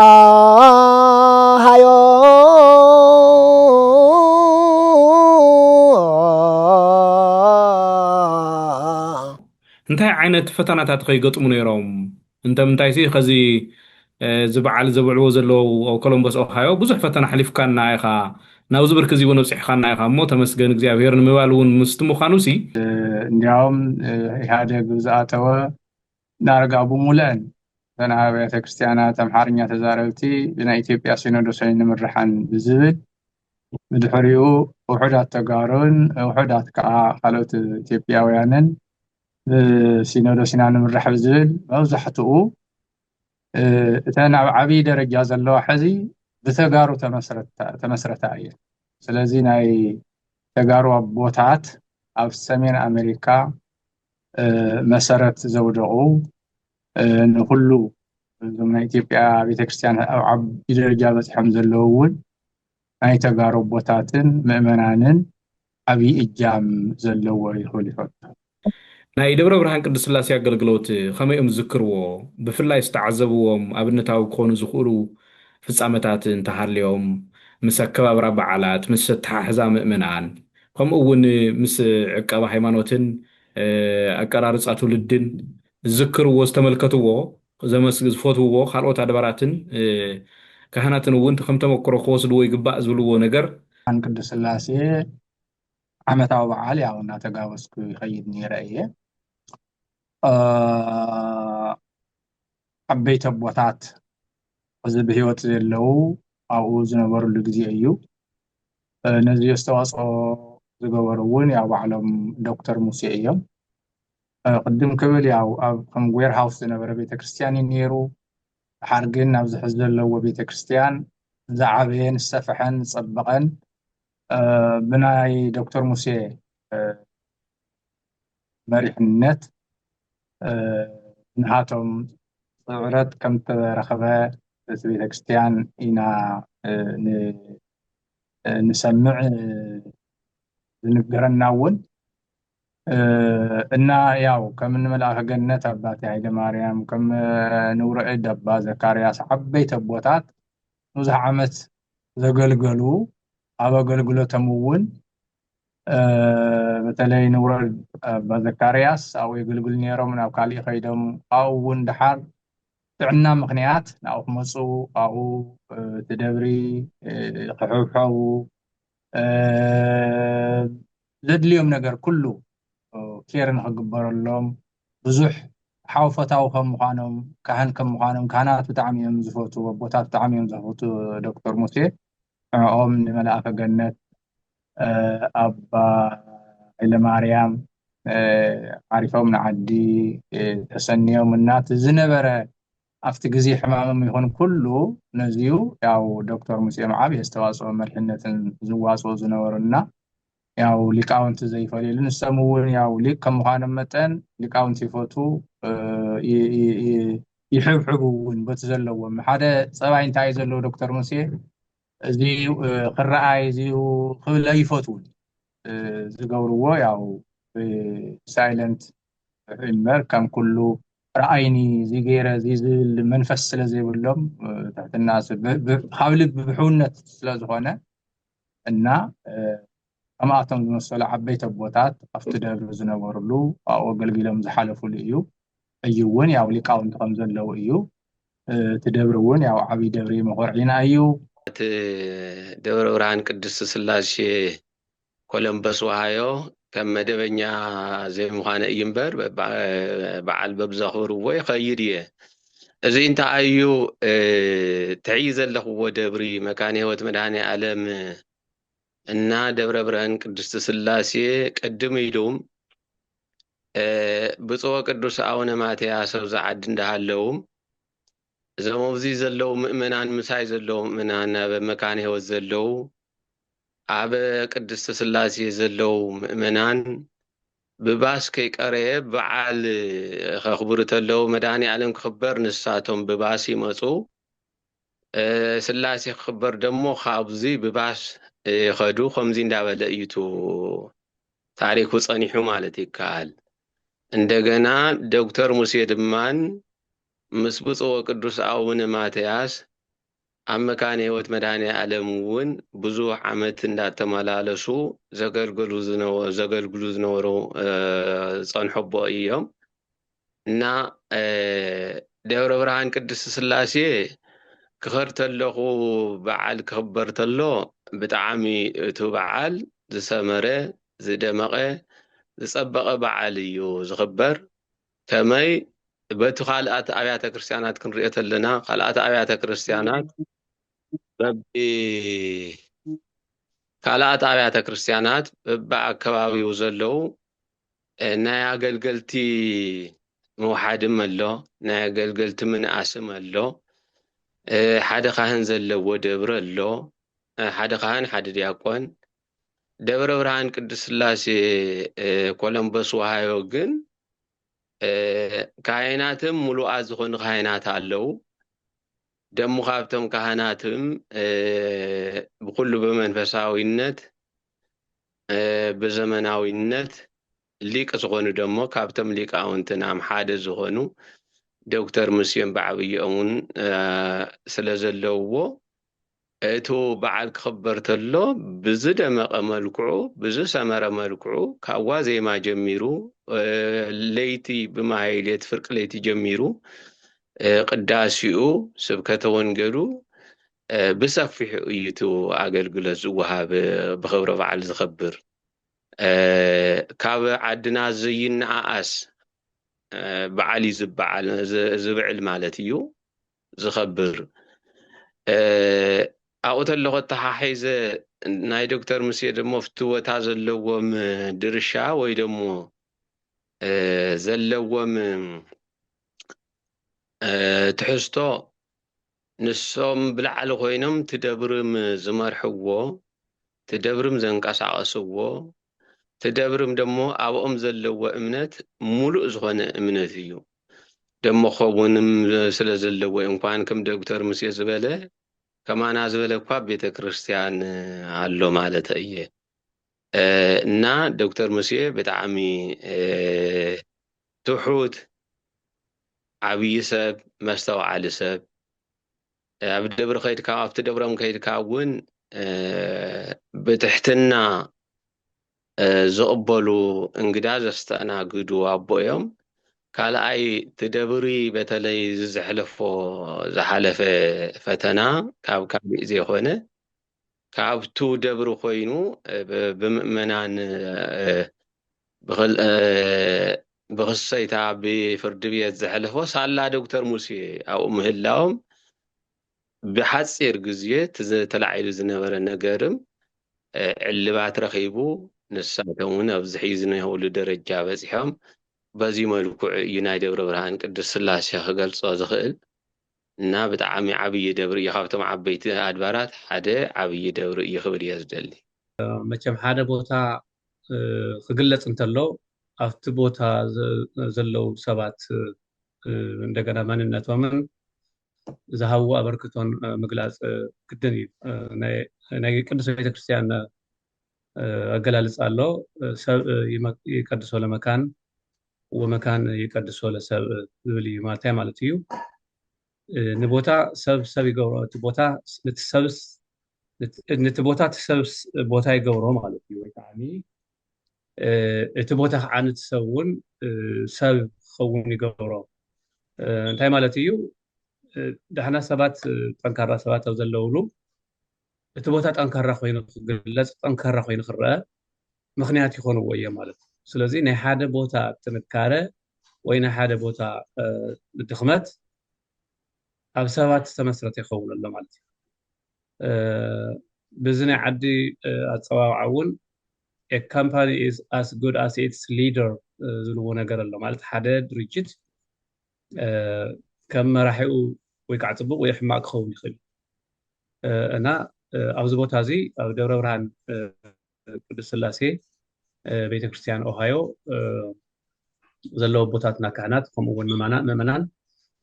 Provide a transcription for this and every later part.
ኣሃዮ እንታይ ዓይነት ፈተናታት ኸ ይገጥሙ ነይሮም? እንተምንታይሲ ኸዚ እዚ በዓል ዘብዕልዎ ዘለዉ ኣብ ኮሎምቦስ ኦሃዮ ብዙሕ ፈተና ኣሕሊፍካና ኢኻ፣ ናብዚ ብርኪ እዚ እውን ኣብፂሕኻና ኢኻ እሞ ተመስገን እግዚኣብሄር ንምባል እውን ምስቲ ምዃኑሲ፣ እንዲያውም ኢህኣዴግ ብዝኣተወ ዳርጋ ብሙለኣን እተን ኣብያተ ክርስትያናት ኣምሓርኛ ተዛረብቲ ብናይ ኢትዮጵያ ሲኖዶስ ኣይንምረሓን ብዝብል ብድሕሪኡ ውሑዳት ተጋሩን ውሑዳት ከዓ ካልኦት ኢትዮጵያውያንን ብሲኖዶስ ኢና ንምራሕ ብዝብል መብዛሕትኡ እተን ኣብ ዓብዪ ደረጃ ዘለዋ ሕዚ ብተጋሩ ተመስረታ እየን ስለዚ ናይ ተጋሩ ኣቦታት ኣብ ሰሜን ኣሜሪካ መሰረት ዘውደቑ ንኩሉ እዞም ናይ ኢትዮጵያ ቤተክርስትያን ኣብ ዓቢ ደረጃ በፂሖም ዘለዉ እውን ናይ ተጋሩ ኣቦታትን ምእመናንን ዓብዪ እጃም ዘለዎ እዩ ክብል ይፈቱ። ናይ ደብረ ብርሃን ቅድስት ስላሴ ኣገልግሎት ከመይ እዮም ዝዝክርዎ? ብፍላይ ዝተዓዘብዎም ኣብነታዊ ክኾኑ ዝኽእሉ ፍፃመታት እንተሃልዮም፣ ምስ ኣከባብራ በዓላት፣ ምስ ኣተሓሕዛ ምእመናን፣ ከምኡ እውን ምስ ዕቀባ ሃይማኖትን ኣቀራርፃ ትውልድን ዝዝክርዎ፣ ዝተመልከትዎ፣ ዘመስግ ዝፈትውዎ ካልኦት ኣድባራትን ካህናትን እውን ከም ተመክሮ ክወስድዎ ይግባእ ዝብልዎ ነገር። ብርሃን ቅድስት ስላሴ ዓመታዊ በዓል ያው እናተጋበዝኩ ይኸይድ ነይረ እየ። ዓበይቲ ኣቦታት ሕዚ ብህይወት ዘየለዉ ኣብኡ ዝነበርሉ ግዜ እዩ። ነዚ ኣስተዋፅኦ ዝገበሩ እውን ያው ባዕሎም ዶክተር ሙሴ እዮም። ቅድም ክብል ያው ኣብ ከም ዌርሃውስ ዝነበረ ቤተክርስትያን እዩ ነይሩ። ድሓር ግን ናብዚ ሕዚ ዘለዎ ቤተክርስትያን ዝዓበየን ዝሰፈሐን ዝፀበቐን ብናይ ዶክተር ሙሴ መሪሕነት ብንኣቶም ስዕረት ከም ዝተረኸበ እቲ ቤተክርስትያን ኢና ንሰምዕ ዝንገረና እውን እና ያው ከም እንመልኣኸ ገነት ኣባቴ ሃይለ ማርያም ከም ንውረእድ ኣባ ዘካርያስ ዓበይቲ ኣቦታት ብዙሕ ዓመት ዘገልገሉ ኣብ ኣገልግሎቶም እውን በተለይ ንውረድ ኣባ ዘካርያስ ኣብኡ የገልግሉ ነይሮም ናብ ካሊእ ከይዶም ኣብኡ እውን ድሓር ጥዕና ምክንያት ናብኡ ክመፁ ኣብኡ እቲ ደብሪ ክሕብሐቡ ዘድልዮም ነገር ኩሉ ኬር ንክግበረሎም ብዙሕ ሓው ፈታዊ ከም ምዃኖም ካህን ከም ምዃኖም ካህናት ብጣዕሚ እዮም ዝፈትዉ ኣቦታት ብጣዕሚ እዮም ዝፈትዉ ዶክተር ሙሴ ንዕኦም ንመልኣከ ገነት ኣባ ሃይለማርያም ዓሪፎም ንዓዲ ተሰንዮም እና እቲ ዝነበረ ኣብቲ ግዜ ሕማምም ይኹን ኩሉ ነዚዩ ያው ዶክተር ሙሴ መዓብ የስተዋፅኦ መሪሕነትን ዝዋፅኡ ዝነበሩ እና ያው ሊቃውንቲ ዘይፈልዩሉ ንሶም እውን ያው ሊቅ ከም ምዃኖም መጠን ሊቃውንቲ ይፈቱ ይሕብሕቡ እውን በቲ ዘለዎም ሓደ ፀባይ እንታይ እዩ ዘለዎ ዶክተር ሙሴ እዚ ክረኣይ እዚ ክብለ ይፈትውን ዝገብርዎ ያው ሳይለንት እምበር ከም ኩሉ ረኣይኒ እዚ ገይረ እዚ ዝብል መንፈስ ስለ ዘይብሎም ትሕትና ካብ ልቢ ብሕውነት ስለ ዝኾነ እና ከምኣቶም ዝመሰሉ ዓበይቲ ኣቦታት ኣብቲ ደብሪ ዝነበርሉ ኣብኡ ኣገልጊሎም ዝሓለፍሉ እዩ ሕጂ እውን ያው ሊቃውንቲ ከም ዘለዉ እዩ እቲ ደብሪ እውን ያው ዓብይ ደብሪ መኾርዒና እዩ እቲ ደብረ ብርሃን ቅድስት ስላሴ ኮለምበስ ውሃዮ ከም መደበኛ ዘይምዃነ እዩ እምበር በዓል በብዘኽብርዎ ይኸይድ እየ እዚ እንታይ እዩ ትዕይ ዘለኽዎ ደብሪ መካነ ህይወት መድኃኔ ዓለም እና ደብረ ብርሃን ቅድስት ስላሴ ቅድም ኢሉም ብፁዕ ቅዱስ ኣቡነ ማትያስ ኣብዚ ዓዲ እንዳሃለውም እዞም ኣብዚ ዘለዉ ምእመናን ምሳይ ዘለዉ ምእመናን ኣብ መካነ ህይወት ዘለዉ ኣብ ቅድስቲ ስላሴ ዘለዉ ምእመናን ብባስ ከይቀረየ በዓል ከኽብሩ ተለዉ መድሃኒኣለም ክኽበር ንሳቶም ብባስ ይመጹ ስላሴ ክኽበር ደሞ ካብዙይ ብባስ ይኸዱ ከምዙይ እንዳበለ እዩ እቱ ታሪኩ ጸኒሑ ማለት ይከኣል እንደገና ዶክተር ሙሴ ድማን ምስ ብፁዕ ወቅዱስ ኣቡነ ማትያስ ኣብ መካነ ህይወት መድሃኔኣለም እውን ብዙሕ ዓመት እንዳተመላለሱ ዘገልግሉ ዘገልግሉ ዝነበሩ ዝፀንሑ ኣቦ እዮም እና ደብረ ብርሃን ቅድስት ስላሴ ክኸድ ተለኹ በዓል ክኽበር ተሎ ብጣዕሚ እቱ በዓል ዝሰመረ ዝደመቐ ዝፀበቐ በዓል እዩ ዝኽበር። ከመይ በቲ ካልኣት ኣብያተ ክርስቲያናት ክንሪኦ ተለና ካልኣት ኣብያተ ክርስቲያናት በቢ ካልኣት ኣብያተ ክርስቲያናት በቢ ኣከባቢው ዘለው ናይ ኣገልገልቲ መውሓድም ኣሎ ናይ ኣገልገልቲ ምንኣስም ኣሎ ሓደ ካህን ዘለዎ ደብረ ኣሎ ሓደ ካህን ሓደ ዲያቆን ደብረ ብርሃን ቅድስት ሥላሴ ኮለምበስ ወሃዮ ግን ካህናትም ሙሉኣ ዝኾኑ ካህናት ኣለው ደሞ ካብቶም ካህናትም ብኩሉ ብመንፈሳዊነት ብዘመናዊነት ሊቅ ዝኾኑ ደሞ ካብቶም ሊቃውንትናም ሓደ ዝኾኑ ዶክተር ሙሴን ባዕብዮኦምን ስለ ዘለውዎ እቱ በዓል ክኽበር ተሎ ብዝደመቐ መልክዑ ብዝሰመረ መልክዑ ካብ ዋዜማ ጀሚሩ ለይቲ ብማህይሌት ፍርቂ ለይቲ ጀሚሩ ቅዳሴኡ ስብከተ ወንጌሉ ብሰፊሑ እዩ እቲ ኣገልግሎት ዝወሃብ ብኽብረ በዓል ዝኸብር ካብ ዓድና ዘይነኣኣስ በዓል እዩ ዝበዓል ዝብዕል ማለት እዩ ዝኸብር ኣብኡ ተለኹ ኣተሓሒዘ ናይ ዶክተር ሙሴ ደሞ ፍትወታ ዘለዎም ድርሻ ወይ ደሞ ዘለዎም ትሕዝቶ ንሶም ብላዕሊ ኮይኖም ትደብርም ዝመርሕዎ ትደብርም ዘንቀሳቀስዎ ትደብርም ደሞ ኣብኦም ዘለዎ እምነት ሙሉእ ዝኾነ እምነት እዩ ደሞ ኸውንም ስለ ዘለዎ እንኳን ክም ደግተር ሙሴ ዝበለ ከማና ዝበለ እኳ ቤተ ክርስቲያን ኣሎ ማለት እየ እና ዶክተር ሙሴ ብጣዕሚ ትሑት ዓብዪ ሰብ መስተውዓሊ ሰብ ኣብ ደብሪ ከይድካ ኣብቲ ደብሮም ከይድካ እውን ብትሕትና ዝቕበሉ እንግዳ ዘስተእናግዱ ኣቦ እዮም። ካልኣይ ትደብሪ በተለይ ዝዘሕለፎ ዝሓለፈ ፈተና ካብ ካሊእ ዘይኮነ ካብቱ ደብሪ ኮይኑ ብምእመናን ብክሰይታ ብፍርድቤት ዘሕለፎ ሳላ ዶክተር ሙሴ ኣብኡ ምህላዎም ብሓፂር ግዜ እቲ ተላዒሉ ዝነበረ ነገርም ዕልባት ረኺቡ ንሳቶም እውን ኣብዚ ሕዚ ዝኒሀውሉ ደረጃ በፂሖም በዚ መልክዑ እዩ ናይ ደብረብርሃን ቅድስት ስላሴ ክገልፆ ዝኽእል። እና ብጣዕሚ ዓብዪ ደብሪ እዩ ካብቶም ዓበይቲ ኣድባራት ሓደ ዓብዪ ደብሪ እዩ ክብል እየ ዝደሊ። መቸም ሓደ ቦታ ክግለፅ እንተሎ ኣብቲ ቦታ ዘለው ሰባት እንደገና መንነቶምን ዝሃብዎ ኣበርክቶን ምግላፅ ግድን እዩ። ናይ ቅዱስ ቤተክርስትያን ኣገላልፃ ኣሎ ሰብ ይቀድሶ ለመካን ወመካን ይቀድሶ ለሰብእ ዝብል እዩ ማለታይ ማለት እዩ ንቦታ ሰብ ሰብ ይገብሮ እቲ ቦታ ንቲ ሰብስ ንቲ ቦታ እቲ ሰብስ ቦታ ይገብሮ ማለት እዩ ወይ ከዓኒ እቲ ቦታ ከዓ ንቲ ሰብ እውን ሰብ ክኸውን ይገብሮ እንታይ ማለት እዩ ዳሕና ሰባት ጠንካራ ሰባት ኣብ ዘለውሉ እቲ ቦታ ጠንካራ ኮይኑ ክግለፅ ጠንካራ ኮይኑ ክረአ ምኽንያት ይኾንዎ እዮም ማለት እዩ። ስለዚ ናይ ሓደ ቦታ ጥንካረ ወይ ናይ ሓደ ቦታ ድኽመት ኣብ ሰባት ዝተመስረተ ይኸውን ኣሎ ማለት እዩ። ብዚ ናይ ዓዲ ኣፀዋውዓ እውን a company is as good as its leader ዝብልዎ ነገር ኣሎ ማለት ሓደ ድርጅት ከም መራሒኡ ወይ ከዓ ፅቡቅ ወይ ሕማቅ ክኸውን ይኽእል እዩ እና ኣብዚ ቦታ እዚ ኣብ ደብረ ብርሃን ቅዱስ ስላሴ ቤተክርስትያን ኦሃዮ ዘለዎ ቦታትና ካህናት ከምኡ እውን ምእመናን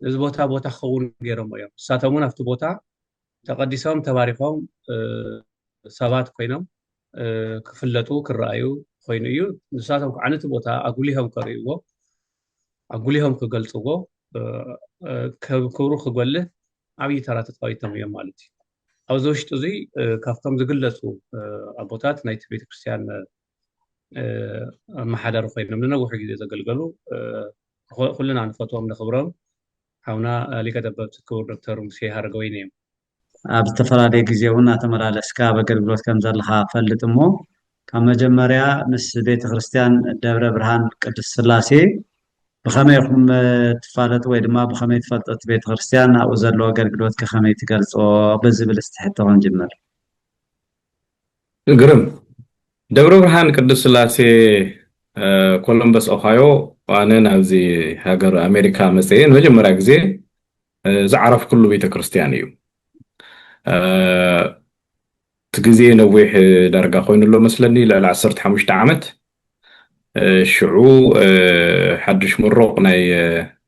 እዚ ቦታ ቦታ ክኸውን ገይሮሞ እዮም ንሳቶም እውን ኣብቲ ቦታ ተቐዲሶም ተባሪኾም ሰባት ኮይኖም ክፍለጡ ክረኣዩ ኮይኑ እዩ ንሳቶም ከዓ ነቲ ቦታ ኣጉሊሆም ከርእይዎ ኣጉሊሆም ክገልፅዎ ክብሩ ክጎልህ ዓብዪ ተራ ተፃዊቶም እዮም ማለት እዩ ኣብዚ ውሽጢ እዙይ ካብቶም ዝግለፁ ኣቦታት ናይቲ ቤተክርስትያን ኣመሓዳሪ ኮይኖም ንነዊሕ ግዜ ዘገልገሉ ኩልና ንፈትዎም ነኽብሮም ሓውና ሊቀ ጠበብቲ ክቡር ዶክተር ሙሴ ሃረገወይኒ እዮም። ኣብ ዝተፈላለየ ግዜ እውን ኣተመላለስካ ኣብ ኣገልግሎት ከም ዘለኻ እፈልጥ እሞ ካብ መጀመርያ ምስ ቤተ ክርስትያን ደብረ ብርሃን ቅድስት ስላሴ ብኸመይ ኢኹም ትፋለጡ ወይ ድማ ብኸመይ ትፈልጡ እቲ ቤተ ክርስቲያን ኣብኡ ዘለዎ ኣገልግሎት ከ ከመይ ትገልጾ ብዝብል እስቲ ሕቶ ክንጅምር ግርም ደብረ ብርሃን ቅዱስ ስላሴ ኮሎምበስ ኦሃዮ ኣነ ናብዚ ሃገር ኣሜሪካ መፅአ ንመጀመርያ ግዜ ዝዓረፍኩሉ ቤተ ክርስቲያን እዩ እቲ ግዜ ነዊሕ ዳርጋ ኮይኑ ኣሎ መስለኒ ልዕሊ ዓሰርተ ሓሙሽተ ዓመት ሽዑ ሓድሽ ምሩቕ ናይ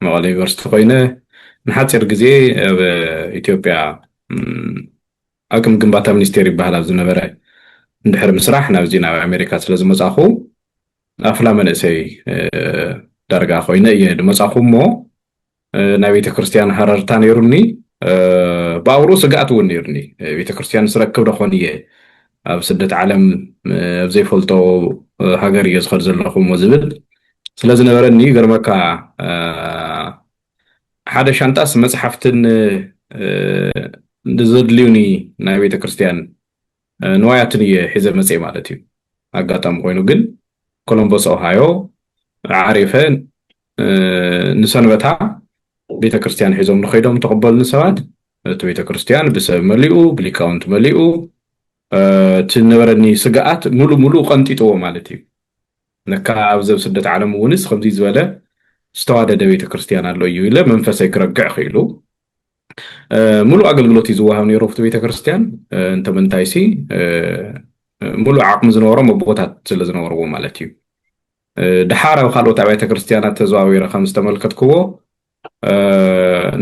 መቐለ ዩኒቨርሲቲ ኮይነ ንሓፂር ግዜ ኣብ ኢትዮጵያ ኣቅም ግንባታ ሚኒስቴር ይበሃል ኣብ ዝነበረ እንድሕሪ ምስራሕ ናብዚ ናብ ኣሜሪካ ስለ ዝመፃኹ ኣፍላ መንእሰይ ዳርጋ ኮይነ እየ ድመፃኹ እሞ ናይ ቤተክርስትያን ሃረርታ ነይሩኒ ብኣውሩ ስግኣት እውን ነይሩኒ ቤተክርስትያን ስረክብ ደኾን እየ ኣብ ስደት ዓለም ኣብ ዘይፈልጦ ሃገር እየ ዝኸድ ዘለኹም ዝብል ስለዝነበረኒ ገርመካ ሓደ ሻንጣስ መፅሓፍትን ዘድልዩኒ ናይ ቤተክርስትያን ንዋያትን እየ ሒዘ መፅየ ማለት እዩ። ኣጋጣሚ ኮይኑ ግን ኮሎምቦስ ኦሃዮ ዓሪፈ ንሰንበታ ቤተ ክርስቲያን ሒዞም ንኸይዶም ተቐበሉኒ ሰባት እቲ ቤተ ክርስቲያን ብሰብ መሊኡ ብሊቃውንት መሊኡ እቲ ነበረኒ ስግኣት ሙሉ ሙሉ ቀንጢጥዎ ማለት እዩ ነካ ኣብዚ ኣብ ስደት ዓለም እውንስ ከምዚ ዝበለ ዝተዋደደ ቤተ ክርስቲያን ኣሎ እዩ ኢለ መንፈሰይ ክረግዕ ክኢሉ ምሉእ ኣገልግሎት እዩ ዝወሃብ ነይሩ ኣብቲ ቤተክርስትያን እንተምንታይሲ ምሉእ ዓቕሚ ዝነበሮም ኣቦታት ስለ ዝነበርዎ ማለት እዩ ድሓር ኣብ ካልኦት ኣብያተ ክርስትያናት ተዘዋዊረ ከም ዝተመልከትክዎ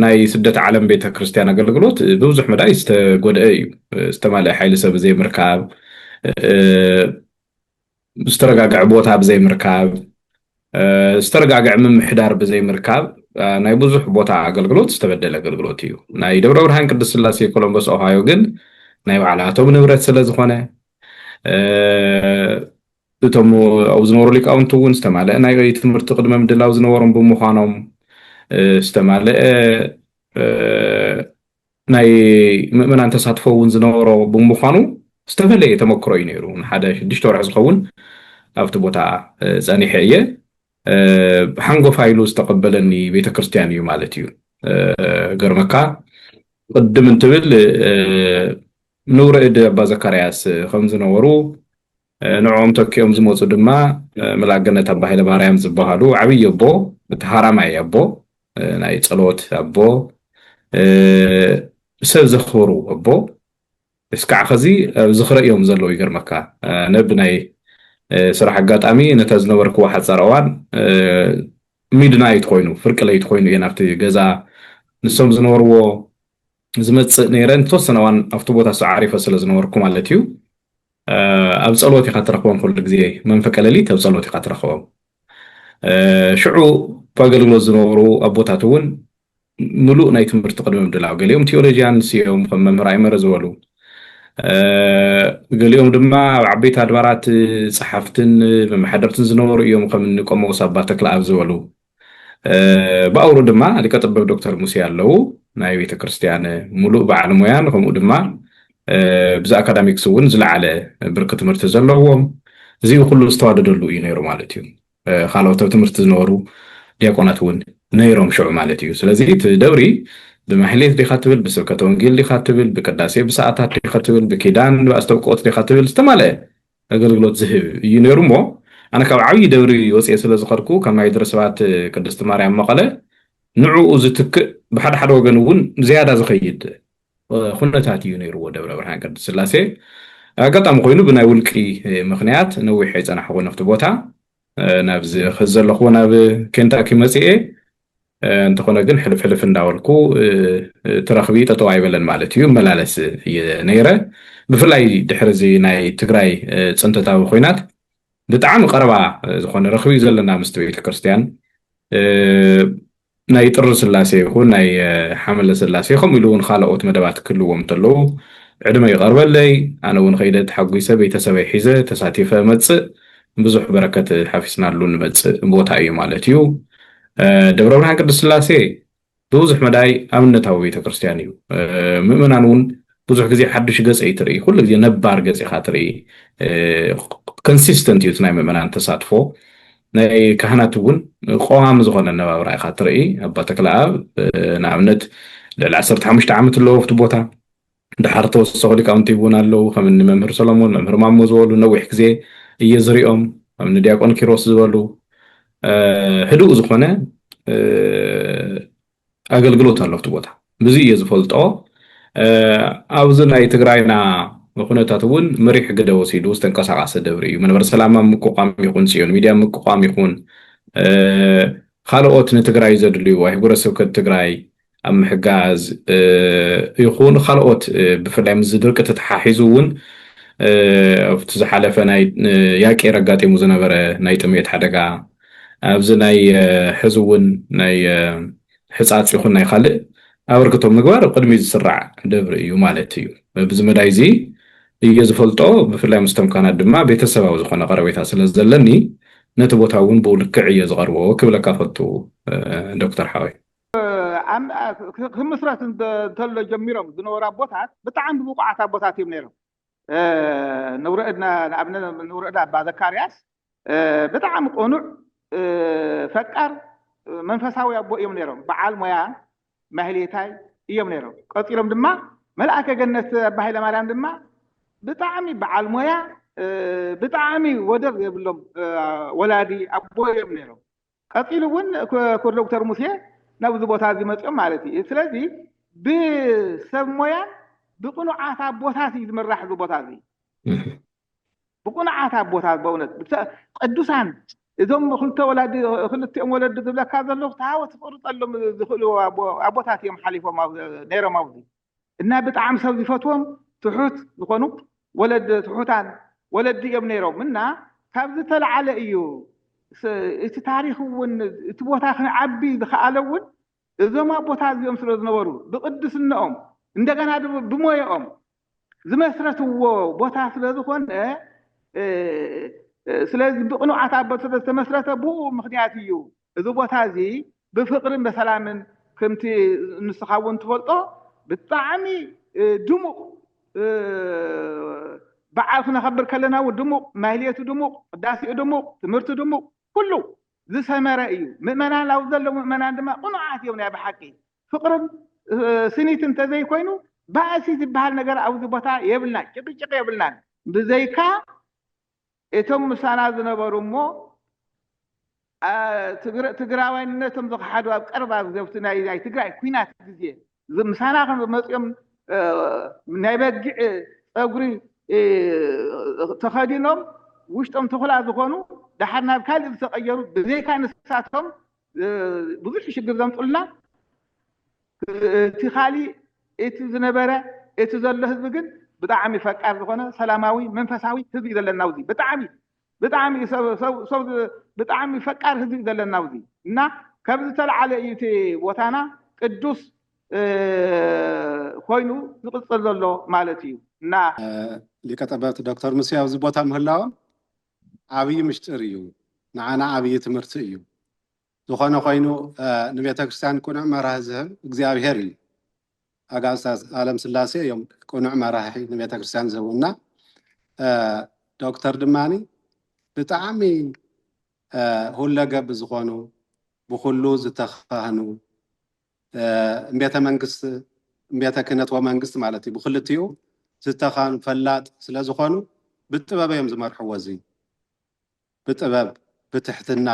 ናይ ስደት ዓለም ቤተክርስትያን ኣገልግሎት ብብዙሕ መዳይ ዝተጎድአ እዩ ዝተማልአ ሓይሊ ሰብ ዘይምርካብ ዝተረጋገዐ ቦታ ብዘይምርካብ፣ ዝተረጋገዐ ምምሕዳር ብዘይምርካብ ናይ ብዙሕ ቦታ ኣገልግሎት ዝተበደለ ኣገልግሎት እዩ። ናይ ደብረ ብርሃን ቅድስት ስላሴ ኮሎምበስ ኦሃዮ ግን ናይ ባዕላቶም ንብረት ስለ ዝኾነ እቶም ኣብኡ ዝነበሩ ሊቃውንቲ እውን ዝተማልአ ናይ ትምህርቲ ቅድመ ምድላው ዝነበሮም ብምዃኖም ዝተማልአ ናይ ምእመናን ተሳትፎ እውን ዝነበሮ ብምዃኑ ዝተፈለየ ተመክሮ እዩ ነይሩ። ንሓደ ሽዱሽተ ወርሒ ዝኸውን ኣብቲ ቦታ ጸኒሐ እየ። ሓንጎፋ ኢሉ ዝተቐበለኒ ቤተ ክርስቲያን እዩ ማለት እዩ። ገርመካ ቅድም እንትብል ንውረ እድ ኣባ ዘካርያስ ከም ዝነበሩ ንዕኦም ተኪኦም ዝመፁ ድማ መልኣከ ገነት ኣባ ሃይለማርያም ዝበሃሉ ዓብዪ ኣቦ እቲ ሃራማይ ኣቦ ናይ ፀሎት ኣቦ ሰብ ዘኽብሩ ኣቦ እስካዕ ኸዚ ኣብ ዝኽረ እዮም ዘለዉ ይገርመካ ኣነ ብናይ ስራሕ ኣጋጣሚ ነታ ዝነበርክዎ ሓፃር እዋን ሚድናይት ኮይኑ ፍርቂ ለይቲ ኮይኑ እየ ናብቲ ገዛ ንሶም ዝነበርዎ ዝመፅእ ነይረ ንተወሰነ እዋን ኣብቲ ቦታ እሱ ዓሪፈ ስለ ዝነበርኩ ማለት እዩ ኣብ ፀሎት ኢካ ትረክቦም ኩሉ ግዜ መንፈቀ ሌሊት ኣብ ፀሎት ኢካ ትረክቦም ሽዑ ኣገልግሎት ዝነበሩ ኣቦታት እውን ምሉእ ናይ ትምህርቲ ቅድሚ ምድላው ገሊኦም ቴዎሎጂያንስ እዮም ከም መምህር ኣይመረ ዝበሉ ገሊኦም ድማ ኣብ ዓበይቲ ኣድባራት ፀሓፍትን መመሓደርትን ዝነበሩ እዮም ከም ንቆሞስ ኣባ ተክለኣብ ዝበሉ ብኣውሩ ድማ ሊቀ ጥበብ ዶክተር ሙሴ ኣለዉ ናይ ቤተክርስትያን ሙሉእ በዓል ሙያን ከምኡ ድማ ብዚ ኣካዳሚክስ እውን ዝለዓለ ብርኪ ትምህርቲ ዘለዎም እዚ ኩሉ ዝተዋደደሉ እዩ ነይሩ ማለት እዩ ካልኦት ኣብ ትምህርቲ ዝነበሩ ዲያቆናት እውን ነይሮም ሽዑ ማለት እዩ ስለዚ እቲ ደብሪ ብማሕሌት ዲኻ ትብል ብስብከተ ወንጌል ዲኻ ትብል ብቅዳሴ ብሰዓታት ዲኻ ትብል ብኪዳን ብኣስተብቅኦት ዲኻ ትብል ዝተማለአ ኣገልግሎት ዝህብ እዩ ነይሩ እሞ ኣነ ካብ ዓብዪ ደብሪ ወፅኤ ስለ ዝኸድኩ ካብ ናይ ደብረ ሰባት ቅድስቲ ማርያም መቐለ ንዕኡ ዝትክእ ብሓደ ሓደ ወገን እውን ዝያዳ ዝኸይድ ኩነታት እዩ ነይርዎ ደብረ ብርሃን ቅድስት ስላሴ ኣጋጣሚ ኮይኑ ብናይ ውልቂ ምክንያት ነዊሕ ኣይፀናሕኹን ኣብቲ ቦታ ናብዚ ከዚ ዘለኹዎ ናብ ኬንታኪ መፅኤ እንተኾነ ግን ሕልፍ ሕልፍ እንዳበልኩ እቲ ረኽቢ ጠጠው ኣይበለን ማለት እዩ እመላለስ እየ ነይረ ብፍላይ ድሕሪ እዚ ናይ ትግራይ ፅንተታዊ ኮይናት ብጣዕሚ ቀረባ ዝኾነ ረኽቢ ዘለና ምስቲ ቤተክርስትያን ናይ ጥሪ ስላሴ ይኹን ናይ ሓመለ ስላሴ ከምኡ ኢሉ እውን ካልኦት መደባት ክህልዎም እንተለዉ ዕድመ ይቐርበለይ ኣነ እውን ከይደ ተሓጒሰ ቤተሰበይ ሒዘ ተሳቲፈ መፅእ ብዙሕ በረከት ሓፊስናሉ ንመፅእ ቦታ እዩ ማለት እዩ። ደብረ ብርሃን ቅድስት ስላሴ ብብዙሕ መዳይ ኣብነታዊ ቤተክርስትያን እዩ። ምእመናን እውን ብዙሕ ግዜ ሓዱሽ ገፅ ኣይትርኢ፣ ኩሉ ግዜ ነባር ገፅ ኢኻ ትርኢ። ኮንሲስተንት እዩ እቲ ናይ ምእመናን ተሳትፎ። ናይ ካህናት እውን ቀዋሚ ዝኾነ ኣነባብራ ኢኻ ትርኢ። ኣባ ተክለኣብ ንኣብነት ልዕሊ ዓሰርተ ሓሙሽተ ዓመት ኣለዎ ኣብቲ ቦታ። ደሓር ተወሰኹ ሊቃውንቲ እውን ኣለዉ ከም እኒ መምህር ሰሎሞን መምህር ማሞ ዝበሉ ነዊሕ ግዜ እየ ዝሪኦም ከም እኒ ዲያቆን ኪሮስ ዝበሉ ህዱእ ዝኾነ ኣገልግሎት ኣሎ ኣብቲ ቦታ ብዙ እየ ዝፈልጦ ኣብዚ ናይ ትግራይና ኩነታት እውን መሪሕ ግደ ወሲዱ ዝተንቀሳቀሰ ደብሪ እዩ መንበረ ሰላማ ምቁቋም ይኹን ፅዮን ሚድያ ምቁቋም ይኹን ካልኦት ንትግራይ ዘድልዩ ኣህጉረ ስብከት ትግራይ ኣብ ምሕጋዝ ይኹን ካልኦት ብፍላይ ምስ ድርቂ ተተሓሒዙ እውን ኣብቲ ዝሓለፈ ናይ ያቄር ኣጋጢሙ ዝነበረ ናይ ጥሜት ሓደጋ ኣብዚ ናይ ሕዚ እውን ናይ ሕፃፅ ይኹን ናይ ካልእ ኣበርክቶ ምግባር ቅድሚ ዝስራዕ ደብሪ እዩ ማለት እዩ በዚ መዳይ እዚ እየ ዝፈልጦ ብፍላይ ምስቶም ካናት ድማ ቤተሰባዊ ዝኾነ ቀረቤታ ስለ ዘለኒ ነቲ ቦታ እውን ብኡ ልክዕ እየ ዝቐርቦ ክብለካ ፈቱ ዶክተር ሓወይ ክምስረት እንተሎ ጀሚሮም ዝነበሩ ኣቦታት ብጣዕሚ ብቑዓት ኣቦታት እዮም ነይሮም። ንውረእድና ንኣብነት ንውረእዳ ኣባ ዘካርያስ ብጣዕሚ ቆኑዕ ፈቃር መንፈሳዊ ኣቦ እዮም ነይሮም። በዓል ሞያ ማህሌታይ እዮም ነይሮም። ቀፂሎም ድማ መልኣከ ገነት ኣባ ሃይለማርያም ድማ ብጣዕሚ በዓል ሞያ ብጣዕሚ ወደር የብሎም ወላዲ ኣቦ እዮም ነይሮም። ቀጺሉ እውን ክቡር ዶክተር ሙሴ ናብዚ ቦታ እዚ መፅኦም ማለት እዩ። ስለዚ ብሰብ ሞያን ብቅኑዓት ኣቦታት እዩ ዝምራሕ እዚ ቦታ እዚ ብቅኑዓት ኣቦታት በእውነት ቅዱሳን እዞም ክልተ ወላዲ ክልቲኦም ወለዲ ዝብለካ ዘለኹ ተሃወ ትፍቅርጠሎም ዝኽእሉ ኣቦታት እዮም ሓሊፎም ነይሮም ኣብዚ እና ብጣዕሚ ሰብ ዝፈትዎም ትሑት ዝኾኑ ወለድ ትሑታን ወለዲ እዮም ነይሮም እና ካብ ዝተለዓለ እዩ እቲ ታሪክ እውን እቲ ቦታ ክንዓቢ ዝኸኣለ እውን እዞም ኣቦታት እዚኦም ስለ ዝነበሩ ብቅድስነኦም እንደገና ብሞየኦም ዝመስረትዎ ቦታ ስለ ዝኾነ ስለዚ ብቅኑዓት ኣቦት ስለ ዝተመስረተ ብኡ ምክንያት እዩ እዚ ቦታ እዚ ብፍቅርን በሰላምን ክምቲ ንስካ እውን ትፈልጦ ብጣዕሚ ድሙቅ በዓል ክነከብር ከለና እውን ድሙቅ ማህሌቱ ድሙቅ ቅዳሴኡ ድሙቅ ትምህርቱ ድሙቅ ኩሉ ዝሰመረ እዩ ምእመናን ኣብ ዘለዉ ምእመናን ድማ ቅኑዓት እዮም ናይ ብሓቂ ፍቅርን ስኒት እንተዘይኮይኑ ባእሲ ዝበሃል ነገር ኣብዚ ቦታ የብልና ጭቅጭቅ የብልናን ብዘይካ እቶም ምሳና ዝነበሩ እሞ ትግራዋይነቶም ዝኸሓዱ ኣብ ቀረባ ግዜ ኣብቲ ናይ ናይ ትግራይ ኩናት ግዜ ምሳና ከም መፅኦም ናይ በጊዕ ፀጉሪ ተኸዲኖም ውሽጦም ተኹላ ዝኾኑ ደሓር ናብ ካልእ ዝተቐየሩ ብዘይካ ንሳቶም ብዙሕ ሽግር ዘምፁልና እቲ ካሊእ እቲ ዝነበረ እቲ ዘሎ ህዝቢ ግን ብጣዕሚ ፈቃር ዝኾነ ሰላማዊ መንፈሳዊ ህዝቢ እዩ ዘለና ኣብዚ ብጣዕሚ ብጣዕሚ ሰብ ብጣዕሚ ፈቃር ህዝቢ እዩ ዘለና ኣብዚ እና ከብ ዝተለዓለ እዩ እቲ ቦታና ቅዱስ ኮይኑ ዝቅፅል ዘሎ ማለት እዩ እና ሊቀ ጠበብት ዶክተር ሙሴ ኣብዚ ቦታ ምህላዎም ዓብይ ምሽጥር እዩ ንዓና ዓብይ ትምህርቲ እዩ ዝኾነ ኮይኑ ንቤተክርስትያን ቅኑዕ መራሒ ዝህብ እግዚኣብሔር እዩ። ኣጋእዝተ ኣለም ስላሴ እዮም ቅኑዕ መራሒ ንቤተክርስትያን ዝህቡ እና ዶክተር ድማኒ ብጣዕሚ ሁለገብ ዝኾኑ ብኩሉ ዝተኻህኑ እምቤተ መንግስት እምቤተ ክህነት ወመንግስት ማለት እዩ ብክልቲኡ ዝተኻህኑ ፈላጥ ስለዝኾኑ ብጥበብ እዮም ዝመርሕዎ እዚ ብጥበብ ብትሕትና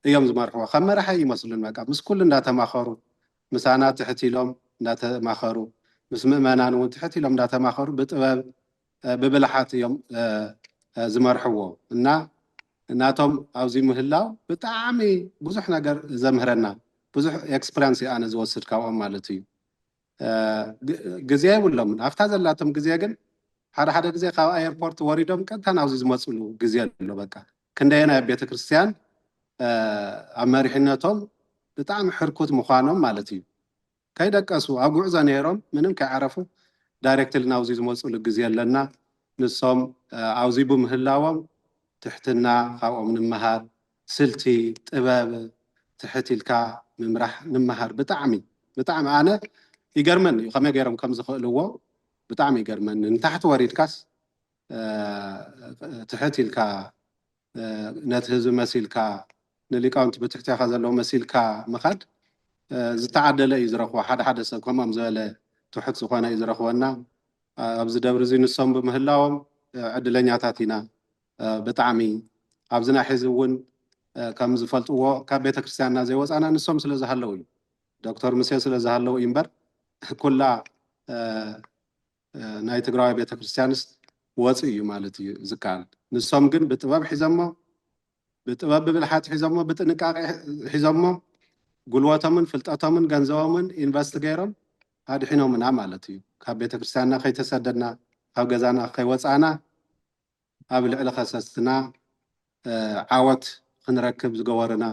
እዮም ዝመርሕዎ ከም መራሒ ኣይመስሉን በቃ ምስ ኩሉ እንዳተማኸሩ ምሳና ትሕት ኢሎም እንዳተማኸሩ ምስ ምእመናን እውን ትሕት ኢሎም እንዳተማኸሩ ብጥበብ ብብልሓት እዮም ዝመርሕዎ እና ናቶም ኣብዚ ምህላው ብጣዕሚ ብዙሕ ነገር ዘምህረና ብዙሕ ኤክስፕሪያንስ እየ ኣነ ዝወስድ ካብኦም ማለት እዩ ግዜ የብሎምን ኣብታ ዘላቶም ግዜ ግን ሓደ ሓደ ግዜ ካብ ኣየርፖርት ወሪዶም ቀጥታ ናብዚ ዝመፅሉ ግዜ ኣሎ በቃ ክንደየናይ ኣብ ቤተክርስትያን ኣብ መሪሕነቶም ብጣዕሚ ሕርኩት ምዃኖም ማለት እዩ ከይደቀሱ ኣብ ጉዕዞ ነይሮም ምንም ከይዓረፉ ዳይሬክትሊ ናብዚ ዝመፅሉ ግዜ ኣለና ንሶም ኣብዚ ብምህላዎም ትሕትና ካብኦም ንምሃር ስልቲ ጥበብ ትሕት ኢልካ ምምራሕ ንመሃር ብጣዕሚ ብጣዕሚ ኣነ ይገርመኒ እዩ ከመይ ገይሮም ከም ዝኽእልዎ ብጣዕሚ ይገርመኒ ንታሕቲ ወሪድካስ ትሕት ኢልካ ነቲ ህዝቢ መሲልካ ንሊቃውንቲ ብትሕቴኻ ዘለዉ መሲልካ ምኻድ ዝተዓደለ እዩ ዝረኽቦ ሓደ ሓደ ሰብ ከምኦም ዝበለ ትሑት ዝኾነ እዩ ዝረኽቦ እና ኣብዚ ደብሪ እዚ ንሶም ብምህላዎም ዕድለኛታት ኢና ብጣዕሚ ኣብዚ ናይ ሕዚ እውን ከም ዝፈልጥዎ ካብ ቤተ ክርስቲያንና ዘይወፃና ንሶም ስለ ዝሃለው እዩ ዶክተር ምሴ ስለ ዝሃለው እዩ እምበር ኩላ ናይ ትግራዊ ቤተ ክርስቲያንስ ወፅ እዩ ማለት እዩ ዝከኣል ንሶም ግን ብጥበብ ሒዘሞ ብጥበብ ብብልሓት ሒዘሞ ብጥንቃቄ ሒዘሞ ጉልበቶምን ፍልጠቶምን ገንዘቦምን ኢንቨስት ገይሮም ኣድሒኖምና ማለት እዩ ካብ ቤተ ክርስቲያንና ከይተሰደድና ካብ ገዛና ከይወፃና ኣብ ልዕሊ ከሰስትና ዓወት ክንረክብ ዝገበሩና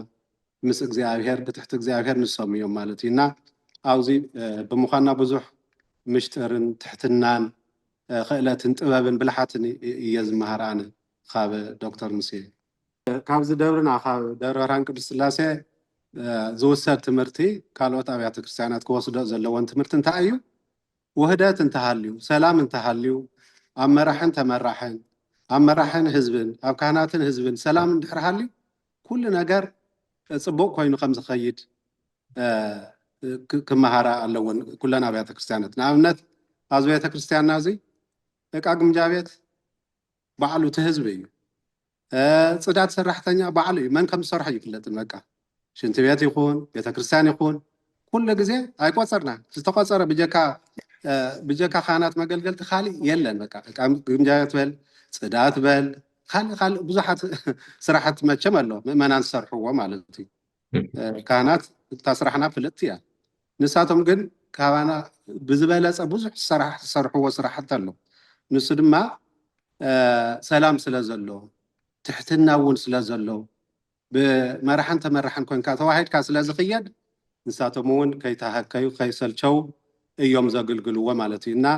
ምስ እግዚኣብሔር ብትሕቲ እግዚኣብሔር ንሶም እዮም ማለት እዩ እና ኣብዚ ብምኳና ብዙሕ ምሽጥርን ትሕትናን ኽእለትን ጥበብን ብልሓትን እየ ዝመሃር ኣነ ኻብ ዶክተር ሙሴ። ካብዚ ደብርና ካብ ደብረ ብርሃን ቅዱስ ስላሴ ዝውሰድ ትምህርቲ ካልኦት ኣብያተ ክርስቲያናት ክወስዶ ዘለወን ትምህርቲ እንታይ እዩ? ውህደት እንተሃልዩ፣ ሰላም እንተሃልዩ፣ ኣብ መራሕን ተመራሕን፣ ኣብ መራሕን ህዝብን፣ ኣብ ካህናትን ህዝብን ሰላም እንድሕር ሃልዩ ኩሉ ነገር ጽቡቕ ኮይኑ ከም ዝኸይድ ክመሃራ ኣለወን ኩለን ኣብያተ ክርስቲያናት። ንኣብነት ኣብዚ ቤተ ክርስቲያንና እዚ ደቃ ግምጃ ቤት ባዕሉ እቲ ህዝቢ እዩ። ፅዳት ሰራሕተኛ ባዕሉ እዩ መን ከም ዝሰርሖ ኣይፍለጥን በቃ ሽንቲ ቤት ይኹን ቤተክርስትያን ይኹን ኩሉ ግዜ ኣይቆፀርና ዝተቆፀረ ብጀካ ብጀካ ካህናት መገልገልቲ ካሊእ የለን በቃ ግምጃዮት በል ፅዳት በል ካልእ ካልእ ብዙሓት ስራሕቲ መቸም ኣሎ ምእመናን ዝሰርሕዎ ማለት እዩ ካህናት እታ ስራሕና ፍልጥቲ እያ ንሳቶም ግን ካባና ብዝበለጸ ብዙሕ ሰራሕ ዝሰርሕዎ ስራሕቲ ኣሎ ንሱ ድማ ሰላም ስለ ዘሎ ትሕትና እውን ስለ ዘሎ ብመራሕን ተመራሕን ኮንካ ተዋሂድካ ስለ ዝኽየድ ንሳቶም እውን ከይተሃከዩ ከይሰልቸው እዮም ዘግልግልዎ ማለት እዩ እና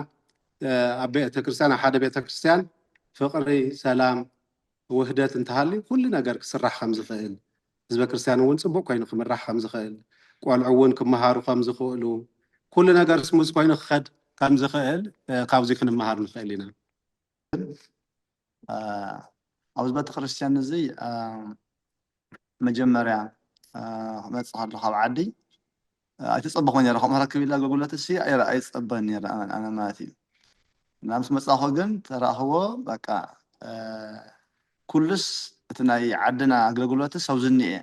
ኣብ ቤተክርስትያን ኣብ ሓደ ቤተክርስትያን ፍቅሪ ሰላም ውህደት እንተሃልዩ ኩሉ ነገር ክስራሕ ከም ዝኽእል ህዝበ ክርስትያን እውን ጽቡቕ ኮይኑ ክምራሕ ከም ዝኽእል፣ ቆልዑ እውን ክመሃሩ ከም ዝኽእሉ፣ ኩሉ ነገር ስሙዝ ኮይኑ ክኸድ ከም ዝኽእል ካብዚ ክንመሃር ንኽእል ኢና። ኣብዚ ቤተ ክርስትያን እዚ መጀመርያ ክመጽእ ከሎ ካብ ዓዲ ኣይተጸበኹን ኔረ ከምኡ ረክብ ኢላ ጎጉለት ሲ ኣይረ ኣይጸበን ኔረ ኣነ ኣነ ማለት እዩ እና ምስ መጻኹ ግን ተራኽቦ በቃ ኩሉስ እቲ ናይ ዓድና ኣገልግሎት ሰብዝኒ እየ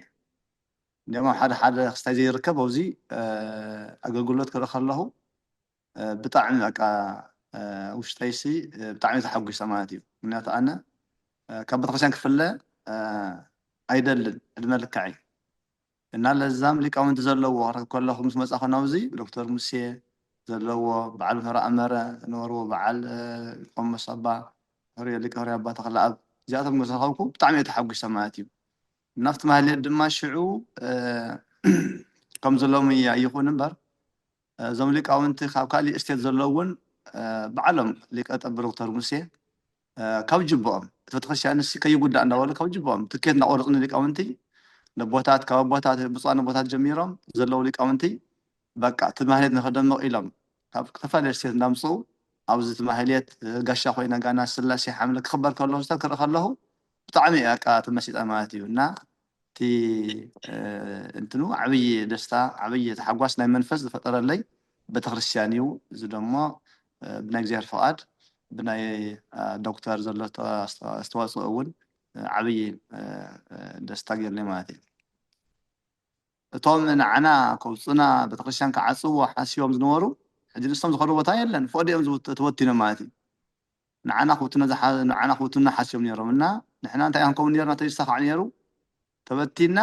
እንዲኦም ኣብ ሓደ ሓደ ክስታይ ዘይርከብ ኣብዚ ኣገልግሎት ክርኢ ከለኹ ብጣዕሚ በቃ ውሽጠይሲ ብጣዕሚ ተሓጒሰ ማለት እዩ ምክንያቱ ኣነ ካብ ቤተክርስትያን ክፍለ ኣይደልን ዕድመ ልክዐይ እና ለዛም ሊቃውንቲ ዘለዎ ክትረክብ ከለኩ ምስ መጻኩ ናብዚ ዶክተር ሙሴ ዘለዎ በዓል ምህሮ ኣመረ ዝነበርዎ በዓል ቆሞስ ኣባ ህሩየ ሊቀ ህሩይ ኣባ ተክለኣብ እዚኣቶም ምስ ረከብኩ ብጣዕሚ እየ ተሓጉሰ ማለት እዩ እና ኣብቲ ማህሌት ድማ ሽዑ ከምዚ ሎሚ ኣይኩን እምበር እዞም ሊቃውንቲ ካብ ካሊእ ስቴት ዘለዉ እውን በዓሎም ሊቀ ጠብር ዶክተር ሙሴ ካብ ጅብኦም እቲ ቤተክርስትያን ንሲ ከይጉዳእ እንዳበሉ ካብ ጅብኦም ትኬት እንዳቆረፁ ንሊቃውንቲ ነቦታት ካብ ኣቦታት ብፁዓን ኣቦታት ጀሚሮም ዘለዉ ሊቃውንቲ በቃ እቲ ማህሌት ንክደምቅ ኢሎም ካብ ዝተፈላለየ ስቴት እንዳምፅኡ ኣብዚ እቲ ማህሌት ጋሻ ኮይና ጋና ስላሴ ሓምለ ክክበር ከሎ ክስተ ክርኢ ከለኩ ብጣዕሚ እየ በቃ ተመሲጠ ማለት እዩ እና እቲ እንትኑ ዓብዪ ደስታ ዓብዪ ታሕጓስ ናይ መንፈስ ዝፈጠረለይ ቤተክርስትያን እዩ። እዚ ደሞ ብናይ እግዚኣብሔር ፍቃድ ብናይ ዶክተር ዘሎ ኣስተዋፅኦ እውን ዓብዪ ደስታ ገይሩለይ ማለት እዩ። እቶም ንዓና ከውፁና ቤተክርስትያን ክዓፅዎ ሓሲቦም ዝነበሩ ሕጂ ንሶም ዝኸድዎ ቦታ የለን ፎእ ድኦም ተበቲኖም ማለት እዩ። ንዓና ክብትኖ ዝሓ ንዓና ክብትኑና ሓሲቦም ኔሮም እና ንሕና እንታይ ክንከውን ኔርና ተይሳኻዕ ኔሩ ተበቲንና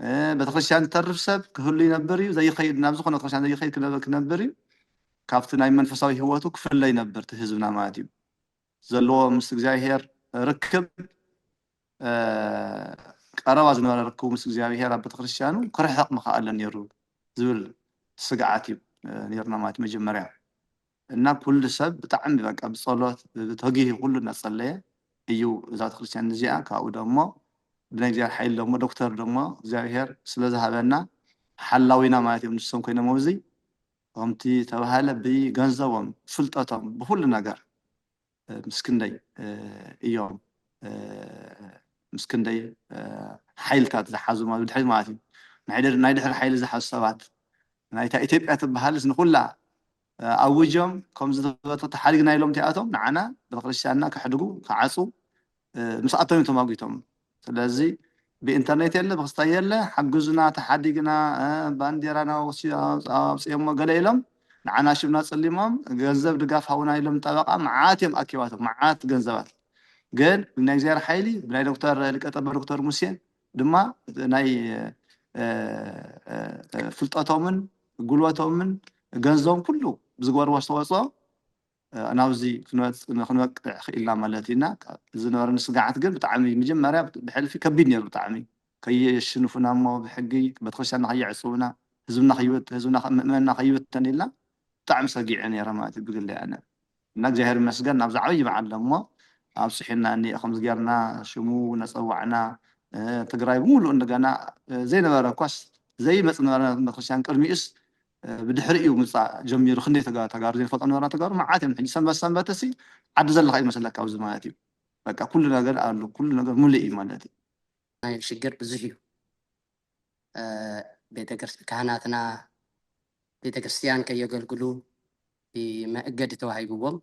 እ ቤተክርስትያን ዝተርፍ ሰብ ክህሉ ይነብር እዩ ዘይኸይድ ናብ ዝኾነ ቤተክርስትያን ዘይኸይድ ክነ ክነብር እዩ ካብቲ ናይ መንፈሳዊ ህይወቱ ክፍለ ይነብር እቲ ህዝብና ማለት እዩ ዘለዎ ምስ እግዚኣብሄር ርክብ እ ቀረባ ዝነበረ ርክቡ ምስ እግዚኣብሄር ኣብ ቤተክርስትያኑ ክርሕቕ ምኸኣለ ኔሩ ዝብል ስግዓት እዩ ኔርና ማለት መጀመርያ እና ኩሉ ሰብ ብጣዕሚ በቃ ብጸሎት ብተጊሂ ኩሉ እናጸለየ እዩ እዛ ቤተክርስትያን እዚኣ ካብኡ ደሞ ብናይ እግዚኣብሔር ሓይሊ ደሞ ዶክተር ደሞ እግዚኣብሔር ስለ ዝሃበና ሓላዊና ማለት እዮም ንሶም ኮይኖም ኣብዚ ከምቲ ዝተባሃለ ብገንዘቦም ብፍልጠቶም ብኩሉ ነገር ምስ ክንደይ እዮም ምስ ክንደይ ሓይልታት ዝሓዙ ማለት ብድሕሪት ማለት እዩ ናይ ድሕሪ ሓይሊ ዝሓዙ ሰባት ናይታ ኢትዮጵያ ትበሃልስ ንኩላ ኣውጆም ከምዚ ተሓሪግና ኢሎም እቲኣቶም ንዓና ቤተክርስትያንና ከሕድጉ ከዓፁ ምስኣቶም እዮም ተማጒቶም ስለዚ ብኢንተርኔት የለ ብክስታይ የለ ሓግዙና ተሓዲግና ባንዴራና ኣውፅኦሞ ገለ ኢሎም ንዓና ሽምና ፅሊሞም ገንዘብ ድጋፍ ሃውና ኢሎም ጠበቃ መዓት እዮም ኣኪባቶም መዓት ገንዘባት ግን ብናይ እግዚኣብሔር ሓይሊ ብናይ ዶክተር ሊቀጠበ ዶክተር ሙሴ ድማ ናይ ፍልጠቶምን ጉልበቶምን ገንዘቦም ኩሉ ብዝገበርዎ ኣስተዋፅኦ ናብዚ ክንበቅዕ ክኢልና ማለት እዩ እና ዝነበረኒ ስግዓት ግን ብጣዕሚ መጀመርያ ብሕልፊ ከቢድ ነይሩ ብጣዕሚ ከየሽንፉና እሞ ብሕጊ ቤተክርስትያንና ከየዕፅዉና ህዝብና ከይበተን ህዝብና ምእመንና ከይበተን ኢልና ብጣዕሚ ሰጊዐ ነይረ ማለት እዩ ብግለይ ኣነ እና እግዚኣብሔር ይመስገን ናብዚ ዓብይ በዓል ደሞ ኣብፅሑና እኒአ ከምዚ ጌርና ሽሙ ነፀዋዕና ትግራይ ብምሉእ እንደገና ዘይነበረ እኳስ ዘይመፅ ነበረ ቤተክርስትያን ቅድሚኡስ ብድሕሪ እዩ ምምጻእ ጀሚሩ ክንደይ ተጋሩ ዘይንፈልጦም ነበርና ተጋሩ መዓት እዮም ሕጂ ሰንበት ሰንበት ሲ ዓዲ ዘለካ እዩ ዝመስለካ ኣብዚ ማለት እዩ በቃ ኩሉ ነገር ኣሉ ኩሉ ነገር ሙሉእ እዩ ማለት እዩ ናይ ሽግር ብዙሕ እዩ ቤተክርስ ካህናትና ቤተክርስትያን ከየገልግሉ መእገዲ ተዋሂብዎም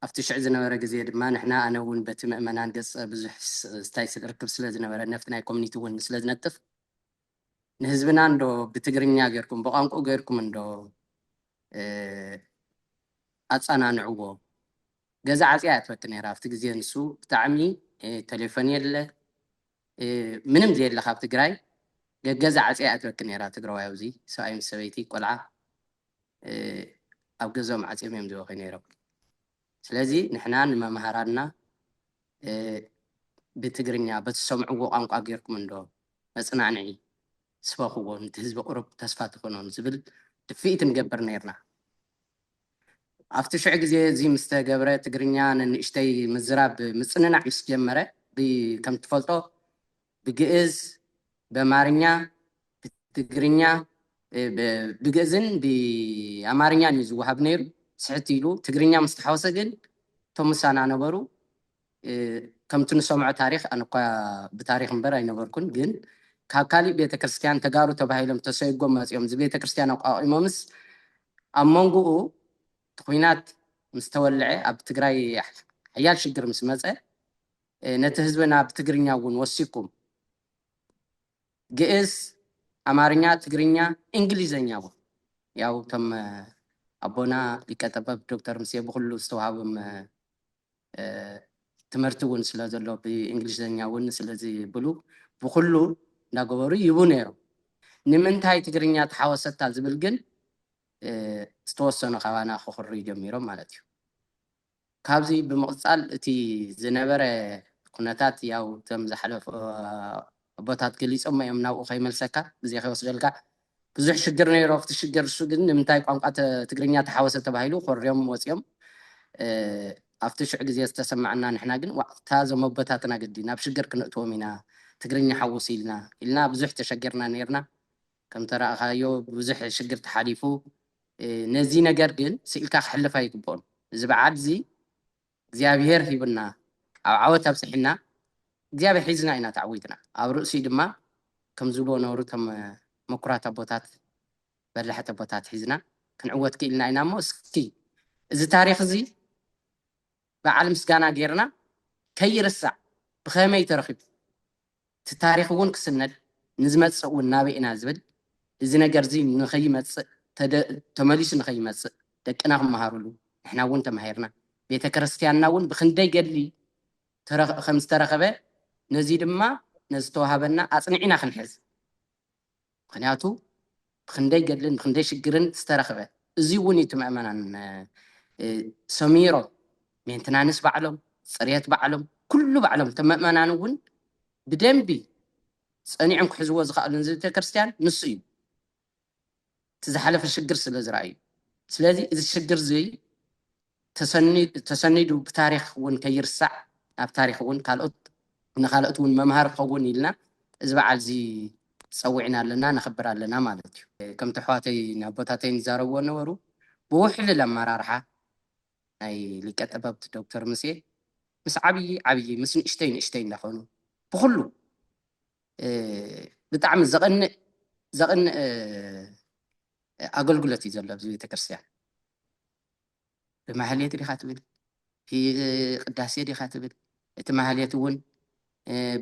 ኣብቲ ሽዕ ዝነበረ ግዜ ድማ ንሕና ኣነ እውን በቲ ምእመናን ገጽ ብዙሕ ስታይ ርክብ ስለ ዝነበረ ነፍቲ ናይ ኮሚኒቲ እውን ስለ ዝነጥፍ ንህዝብና እንዶ ብትግርኛ ጌርኩም ብቋንቁኡ ጌርኩም እንዶ ኣጻናንዕዎ ገዛ ዓጽያ እያ ትፈቲ ነይራ ኣብቲ ግዜ ንሱ ብጣዕሚ ቴሌፎን የለ ምንም ዘየለ ካብ ትግራይ ገገዛ ዓጽያ እያ ትበኪ ነይራ ትግራዋይ ኣብዚ ሰብኣይ ምስ ሰበይቲ ቆልዓ ኣብ ገዝኦም ዓጽዮም እዮም ዝበኪ ነይሮም ስለዚ ንሕና ንመማህራንና ብትግርኛ በትሰምዕዎ ቋንቋ ጌርኩም እንዶ መጽናዕንዒ ስበኽዎ ንቲ ህዝቢ ቁሩብ ተስፋ ትኹኖም ዝብል ድፍኢት ንገብር ኔርና። ኣብቲ ሽዑ ግዜ እዚ ምስ ተገብረ ትግርኛ ነንእሽተይ ምዝራብ ምጽንናዕ ምስ ጀመረ ከምትፈልጦ ብግእዝ፣ በማርኛ፣ ብትግርኛ፣ ብግእዝን ብኣማርኛን እዩ ዝወሃብ ነይሩ። ስሕት ኢሉ ትግርኛ ምስ ተሓወሰ ግን እቶም ምሳና ነበሩ ከምቲ ንሰምዖ ታሪኽ ኣነ እኳ ብታሪኽ እምበር ኣይነበርኩን ግን ካብ ካሊእ ቤተ ክርስቲያን ተጋሩ ተባሂሎም ተሰይጎም መፂኦም እዚ ቤተ ክርስቲያን ኣቋቒሞምስ ኣብ መንጎኡ እቲ ኩናት ምስ ተወልዐ ኣብ ትግራይ ሓያል ሽግር ምስ መፀ ነቲ ህዝብና ብትግርኛ እውን ወሲኩም ግእዝ ኣማርኛ ትግርኛ እንግሊዘኛ እውን ያው እቶም ኣቦና ሊቀ ጠበብ ዶክተር ምሴ ብኩሉ ዝተዋሃብም ትምህርቲ እውን ስለ ዘሎ ብእንግሊዘኛ እውን ስለዝብሉ ብኩሉ እናገበሩ ይቡ ነይሮም ንምንታይ ትግርኛ ተሓወሰታ ዝብል ግን ዝተወሰኑ ካባና ክኽርዩ ጀሚሮም ማለት እዩ ካብዚ ብምቕጻል እቲ ዝነበረ ኩነታት ያው እቶም ዝሓለፉ ኣቦታት ገሊጾሞ እዮም ናብኡ ከይመልሰካ ግዜ ከይወስደልካ ብዙሕ ሽግር ነይሩ ኣብቲ ሽግር እሱ ግን ንምንታይ ቋንቋ ትግርኛ ተሓወሰ ተባሂሉ ኮርዮም ወጽዮም ኣብቲ ሽዑ ግዜ ዝተሰማዕና ንሕና ግን ዋእ እታ እዞም ኣቦታትና ግዲ ናብ ሽግር ክነእትዎም ኢና ትግርኛ ሓውሱ ኢልና ኢልና ብዙሕ ተሸጊርና ነይርና ከምተራእኻዮ ብዙሕ ሽግር ተሓሊፉ ነዚ ነገር ግን ስኢልካ ክሕለፍ ኣይግብኦን እዚ በዓል እዚ እግዚኣብሄር ሂቡና ኣብ ዓወት ኣብጽሒና እግዚኣብሄር ሒዝና ኢና ተዓዊትና ኣብ ርእሲኡ ድማ ከም ዝብልዎ ነበሩ እቶም መኩራት ኣቦታት በላሕቲ ኣቦታት ሒዝና ክንዕወት ክኢልና ኢና እሞ እስኪ እዚ ታሪኽ እዚ በዓል ምስጋና ጌርና ከይርሳዕ ብኸመይ ተረኺቡ እቲ ታሪኽ እውን ክስነድ ንዝመጽእ እውን ናበይ ኢና ዝብል እዚ ነገር እዚ ንኸይመጽእ ተደ ተመሊሱ ንኸይመጽእ ደቅና ክመሃሩሉ ንሕና እውን ተማሂርና ቤተክርስትያንና እውን ብኽንደይ ገድሊ ተረ ከም ዝተረኸበ ነዚ ድማ ነዝተዋሃበና ኣጽኒዕና ክንሕዝ ምኽንያቱ ብኽንደይ ገድልን ብኽንደይ ሽግርን ዝተረኽበ እዙይ እውን እዩ እቲ ምእመናን ሰሚሮም ሜንትናንስ ባዕሎም ፅርየት ባዕሎም ኩሉ ባዕሎም እቶም ምእመናን እውን ብደንቢ ፀኒዖም ክሕዝዎ ዝኸኣሉ ንቤተክርስትያን ንሱ እዩ እቲ ዝሓለፈ ሽግር ስለ ዝረኣዩ ስለዚ እዚ ሽግር እዙይ ተሰኒዱ ብታሪኽ እውን ከይርሳዕ ኣብ ታሪኽ እውን ካልኦት ንካልኦት እውን መምሃሪ ክኸውን ኢልና እዚ በዓል እዚ ፀዊዕና ኣለና ነኽብር ኣለና ማለት እዩ። ከምቲ ኣሕዋተይን ኣቦታተይን ዝዛረብዎ ዝነበሩ ብውሕልል ኣመራርሓ ናይ ሊቀ ጠበብት ዶክተር ሙሴ ምስ ዓብዪ ዓብዪ ምስ ንእሽተይ ንእሽተይ እንዳኾኑ ብኹሉ ብጣዕሚ ዘቐንእ ዘቕንእ ኣገልግሎት እዩ ዘሎ ኣብዚ ቤተክርስትያን። ብማህሌት ዲኻ ትብል ቅዳሴ ዲኻ ትብል እቲ ማህሌት እውን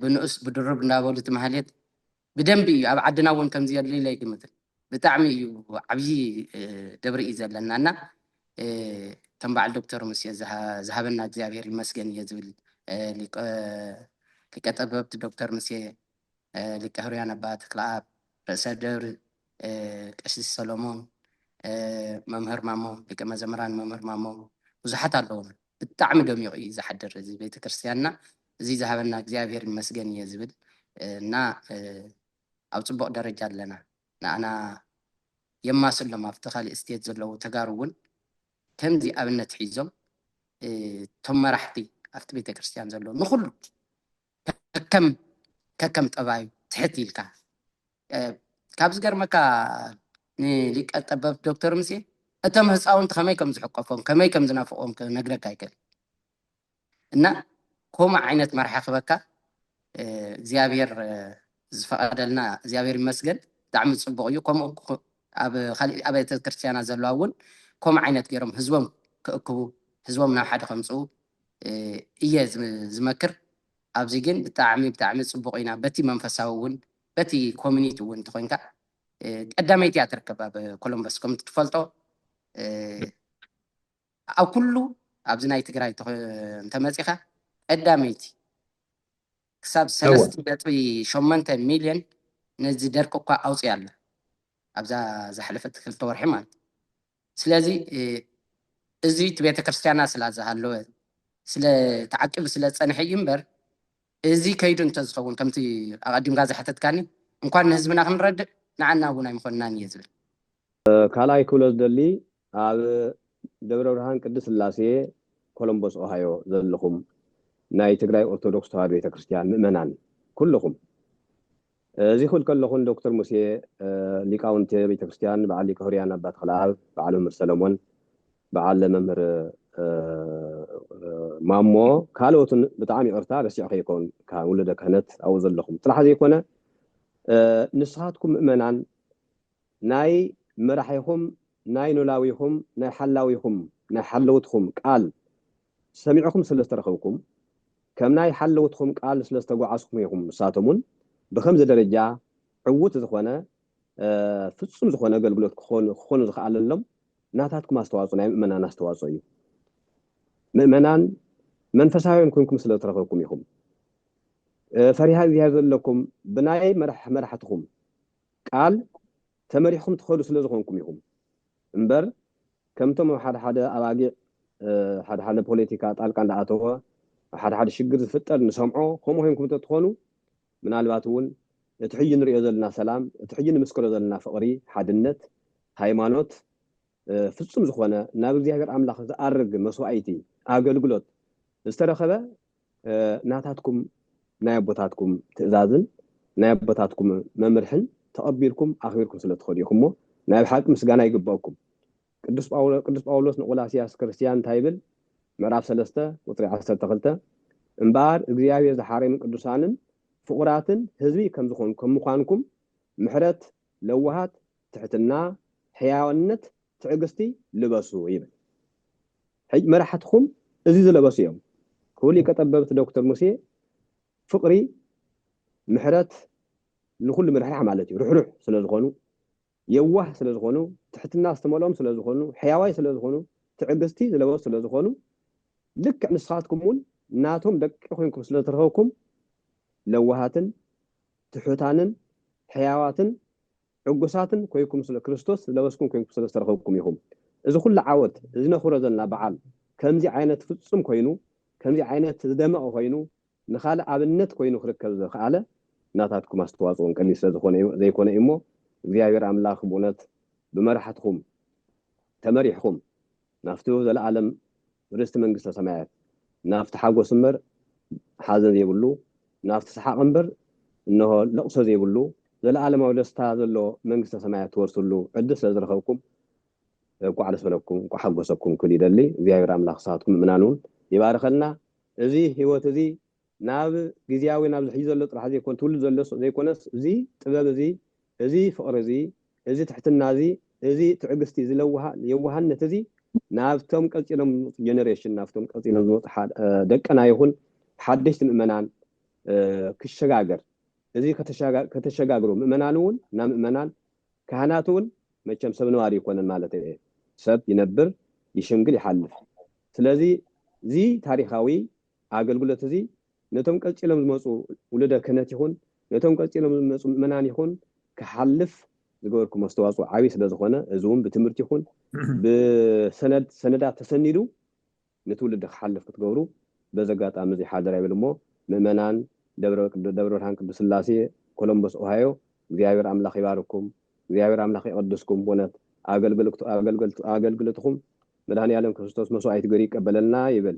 ብንኡስ ብድሩብ እንዳበሉ እቲ ማህሌት ብደንቢ እዩ ኣብ ዓድና እውን ከምዚ የድልዩ ኣይግምትን ብጣዕሚ እዩ ዓብዪ ደብሪ እዩ ዘለና እና ከም በዓል ዶክተር ሙሴ ዝሃበና እግዚኣብሔር ይመስገን እየ ዝብል ሊቀ ጠበብቲ ዶክተር ሙሴ ሊቀ ህሩያን ኣባ ተክለኣብ ርእሰ ደብሪ ቀሲስ ሰሎሞን መምህር ማሞ ደቂ መዘምራን መምህር ማሞ ብዙሓት ኣለውና ብጣዕሚ ደሚቑ እዩ ዝሓድር እዚ ቤተክርስትያንና እዚ ዝሃበና እግዚኣብሔር ይመስገን እየ ዝብል እና ኣብ ፅቡቕ ደረጃ ኣለና ንኣና የማስሎም ኣብቲ ካሊእ ስቴት ዘለዉ ተጋሩ እውን ከምዚ ኣብነት ሒዞም እቶም መራሕቲ ኣብቲ ቤተክርስትያን ዘለዉ ንኩሉ ከከም ጠባዩ ትሕት ኢልካ ካብ ዝገርመካ ንሊቀ ጠበብት ዶክተር ሙሴ እቶም ህፃውንቲ ከመይ ከም ዝሕቆፎም ከመይ ከም ዝናፍቆም ክነግረካ ኣይክእል እና ከምኡ ዓይነት መራሒ ክበካ እግዚኣብሔር ዝፈቐደልና እግዚኣብሔር ይመስገን ብጣዕሚ ፅቡቕ እዩ ከምኡ ኣብ ኻሊእ ኣብያተ ክርስትያናት ዘለዋ እውን ከምኡ ዓይነት ገይሮም ህዝቦም ክእክቡ ህዝቦም ናብ ሓደ ከምፅኡ እየ ዝመክር ኣብዚ ግን ብጣዕሚ ብጣዕሚ ፅቡቅ ኢና በቲ መንፈሳዊ እውን በቲ ኮሚኒቲ እውን እንተኮይንካ ቀዳመይቲ እያ ትርከብ ኣብ ኮሎምበስ ከም ትፈልጦ ኣብ ኩሉ ኣብዚ ናይ ትግራይ እንተመፂኻ ቀዳመይቲ ክሳብ እወ ሰለስተ ነጥቢ ሸሞንተ ሚልዮን ነዚ ደርቂ እኳ ኣውጺኣ ኣላ ኣብዛ ዝሓለፈት ክልተ ወርሒ ማለት እዩ። ስለዚ እ፣ እዚ እቲ ቤተ ክርስቲያና ስላ ዝሃለወ ስለ ተዓቂቡ ስለ ዝጸንሐ እዩ እምበር እዚ ከይዱ እንተዝኸውን ከምቲ ኣቐዲምካ ዝሓተትካኒ እንኳን ንህዝብና ክንረድእ ንዓና እውን ኣይምኾንናን እየ ዝብል። ካልኣይ ክብሎ ዝደሊ ኣብ ደብረብርሃን ቅድስት ስላሴ ኮሎምቦስ ኦሃዮ ዘለኹም ናይ ትግራይ ኦርቶዶክስ ተዋህዶ ቤተክርስትያን ምእመናን ኩሉኹም እዚ ክብል ከለኹ ን ዶክተር ሙሴ ሊቃውንተ ቤተክርስትያን በዓል ሊቀ ሕሩያን ኣባ ተኽለኣብ በዓል መምህር ሰለሞን በዓል መምህር ማሞ ካልኦትን ብጣዕሚ ይቕርታ ረሲዐ ከይከውን ካብ ውሉደ ክህነት ኣብኡ ዘለኹም ጥራሕ ዘይኮነ ንስኻትኩም ምእመናን ናይ መራሒኹም ናይ ኖላዊኹም ናይ ሓላዊኹም ናይ ሓለውትኹም ቃል ሰሚዕኹም ስለ ዝተረኽብኩም ከም ናይ ሓለውትኹም ቃል ስለ ዝተጓዓዝኩም ኢኹም ንሳቶም ውን ብኸምዚ ደረጃ ዕውት ዝኾነ ፍጹም ዝኾነ ኣገልግሎት ክኾኑ ክኾኑ ዝኸኣለሎም ናታትኩም ኣስተዋጽኦ ናይ ምእመናን ኣስተዋጽኦ እዩ ምእመናን መንፈሳውያን ኮንኩም ስለ ዝተረኽብኩም ኢኹም ፈሪሃ እግዚኣብሔር ዘለኩም ብናይ መራሕትኹም ቃል ተመሪሕኩም ትኸዱ ስለ ዝኾንኩም ኢኹም እምበር ከምቶም ኣብ ሓደ ሓደ ኣባጊዕ ሓደ ሓደ ፖለቲካ ጣልቃ እንዳኣተወ ኣብ ሓደ ሓደ ሽግር ዝፍጠር ንሰምዖ ከምኡ ኮይንኩም እንተትኾኑ ምናልባት እውን እቲ ሕጂ ንርእዮ ዘለና ሰላም እቲ ሕጂ ንምስክሮ ዘለና ፍቕሪ ሓድነት ሃይማኖት ፍጹም ዝኾነ ናብ እግዚኣብሔር ኣምላኽ ዝኣርግ መስዋኢቲ ኣገልግሎት ዝተረኸበ ናታትኩም ናይ ኣቦታትኩም ትእዛዝን ናይ ኣቦታትኩም መምርሕን ተቐቢልኩም ኣኽቢርኩም ስለ እትኸዱ ኢኹምሞ ናይ ብሓቂ ምስጋና ይግበኣኩም። ቅዱስ ቅዱስ ጳውሎስ ንቆላስያስ ክርስትያን እንታይ ይብል? ምዕራፍ ሰለስተ ቁጽሪ ዓሰርተ ክልተ እምበኣር እግዚኣብሔር ዝሓረዩም ቅዱሳንን ፍቑራትን ህዝቢ ከም ዝኾን ከም ምዃንኩም ምሕረት፣ ለዋሃት፣ ትሕትና፣ ሕያዋንነት፣ ትዕግስቲ ልበሱ ይብል ሕጅ መራሕትኩም እዚ ዝለበሱ እዮም ክቡ ሊቀ ጠበብት ዶክተር ሙሴ ፍቅሪ ምሕረት ንኩሉ ምርሕራሕ ማለት እዩ ርሕሩሕ ስለ ዝኮኑ የዋህ ስለ ዝኮኑ ትሕትና ዝተመልኦም ስለ ዝኮኑ ሕያዋይ ስለ ዝኮኑ ትዕግስቲ ዝለበሱ ስለ ዝኮኑ ልክዕ ንስካትኩም እውን ናቶም ደቂ ኮንኩም ስለ ዝተረከብኩም ለዋሃትን ትሑታንን ሕያዋትን ዕጉሳትን ኮይኩም ስለ ክርስቶስ ዝለበስኩም ኮይንኩም ስለ ዝተረኸብኩም ኢኹም እዚ ኩሉ ዓወት እዚ ነኽብሮ ዘለና በዓል ከምዚ ዓይነት ፍጹም ኮይኑ ከምዚ ዓይነት ዝደመቐ ኮይኑ ንኻልእ ኣብነት ኮይኑ ክርከብ ዘኽኣለ ናታትኩም ኣስተዋጽኦን ቀሊል ስለ ዝኾነ እዩ ዘይኮነ እዩ እሞ እግዚኣብሔር ኣምላኽ ብእውነት ብመራሕትኹም ተመሪሕኹም ናብቱ ዘለዓለም ርስቲ መንግስተ ሰማያት፣ ናብቲ ሓጎስ እምበር ሓዘን ዘይብሉ፣ ናብቲ ሰሓቕ እምበር እንሆ ለቕሶ ዘይብሉ ዘለዓለማዊ ደስታ ዘለዎ መንግስተ ሰማያት ትወርስሉ ዕድል ስለ ዝረኸብኩም እንኳዕ ደስ በለኩም እንኳዕ ሓጎሰኩም ክብል ይደሊ። እግዚኣብሔር ኣምላኽ ንስኻትኩም ምእመናን እውን ይባርኸልና። እዚ ሕይወት እዚ ናብ ግዝያዊ ናብዚ ሕጂ ዘሎ ጥራሕ ዘይኮን ትውልድ ዘሎስ ዘይኮነስ እዚ ጥበብ እዚ እዚ ፍቕሪ እዚ፣ እዚ ትሕትና እዚ፣ እዚ ትዕግስቲ፣ እዚ ለዋሃት፣ የዋሃነት እዚ ናብቶም ቀጺሎም ዝመጹ ጀነሬሽን፣ ናብቶም ቀጺሎም ዝመጹ ደቅና ይኹን ሓደሽቲ ምእመናን ክሸጋገር፣ እዚ ከተሸጋግሩ ምእመናን እውን ናብ ምእመናን፣ ካህናት እውን መቸም ሰብ ነባሪ ኣይኮነን ማለተይ እየ፣ ሰብ ይነብር፣ ይሽምግል፣ ይሓልፍ። ስለዚ እዚ ታሪኻዊ ኣገልግሎት እዚ ነቶም ቀጺሎም ዝመጹ ውሉደ ክህነት ይኹን ነቶም ቀጺሎም ዝመጹ ምእመናን ይኹን ክሓልፍ ዝገበርኩሞ ኣስተዋጽኦ ዓቢ ስለ ዝኾነ እዚ ውን ብትምህርቲ ይኹን ብሰነድ ሰነዳት ተሰኒዱ ንትውልዲ ክሓልፍ ክትገብሩ በዚ ኣጋጣሚ እዚ ሓደራ ይብል እሞ ምእመናን ደብረ ደብረ ብርሃን ቅዱስ ስላሴ ኮሎምቦስ ኦሃዮ እግዚኣብሔር ኣምላኽ ይባርኩም እግዚኣብሔር ኣምላኽ ይቐድስኩም በእውነት ኣገልግልቱ ኣገልግልቱ ኣገልግልትኹም መድኃኔዓለም ክርስቶስ መስዋዕት ገሩ ይቀበለልና ይብል።